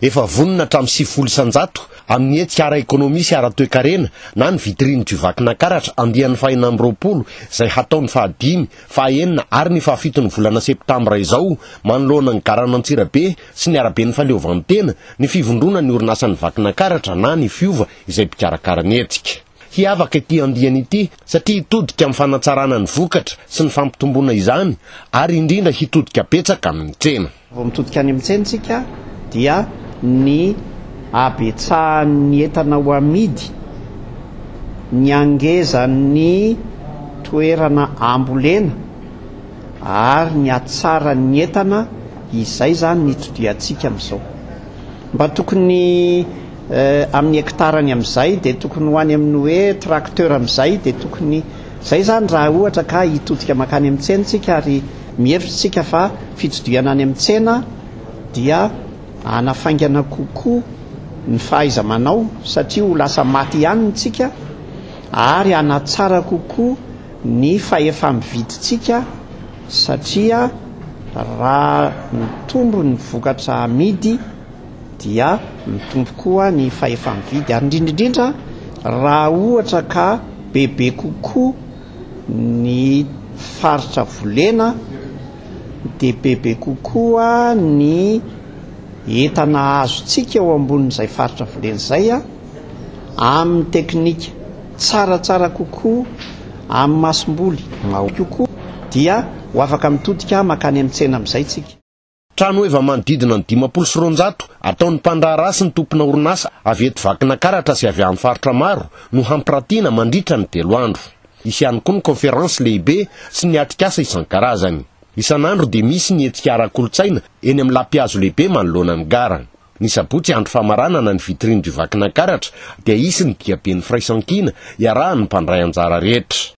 Efa vonona hatramin'ny sivifolo isan-jato amin'ny hetsika ara-ekonomia sy ara-toekarena na ny vitrine du Vakinakaratra andiany fahenina amby roapolo izay hatao ny fahadimy, fahaenina ary ny fahafiton'ny volana septambra izao manoloana ny garan'Antsirabe sy ny araben'ny Fahaleovantena ny fivondrona ny orinasan'ny Vakinakaratra na ny Fiova izay mpikarakara ny hetsika. Hiavaka ity andiany ity satria hitodika amin'ny fanatsarana ny vokatra sy ny fampitomboana izany ary indrindra hitodika betsaka amin'ny tsena. Vao mitodika any amin'ny tsena isika dia ny habetsahan'ny entana ho amidy, ny hangezan'ny toerana ambolena ary ny hatsaran'ny entana, izay izany no itodihantsika amin'izao. Mba tokony amin'ny hekitara any amin'izay dia tokony ho any amin'ny hoe tracteur amin'izay dia tokony izay izany raha ohatra ka hitodika mankany amin'ny tsena isika ary Mihevitra isika fa fitsidihana any amin'ny tsena dia hanafaingana kokoa ny fahaiza-manao satria ho lasa maty ihany ny tsika ary hanatsara kokoa ny fahefa-mividintsika satria raha mitombo ny vokatra amidy dia mitombo koa ny fahefa-mividy ary indrindra indrindra raha ohatra ka bebe kokoa ny faritra volena dia bebe kokoa ny entana azontsika eo ambonin'izay faritra volena izay amin'ny teknika tsaratsara kokoa amin'ny masomboly mahory kokoa dia ho afaka mitodika mankany amin'ny tsena amin'izay isika. Trano heva manodidina ny dimampolo sy roanjato ataon'ny mpandraharaha sy ny tompona orinasa avy eto Vakinakaratra sy avy amin'ny faritra maro no hampirantiana mandritra ny telo andro. Hisy ihany koa ny kaonferansy lehibe sy ny atrikasa isan-karazany. Isan'andro dia misy ny hetsika ara-kolontsaina eny amin'ny lapihazo lehibe manoloana ny gara. Ny sabotsy andro famaranana ny vitrine du Vakinakaratra dia hisy ny diaben'ny firaisankina iarahan'ny mpandray anjara rehetra.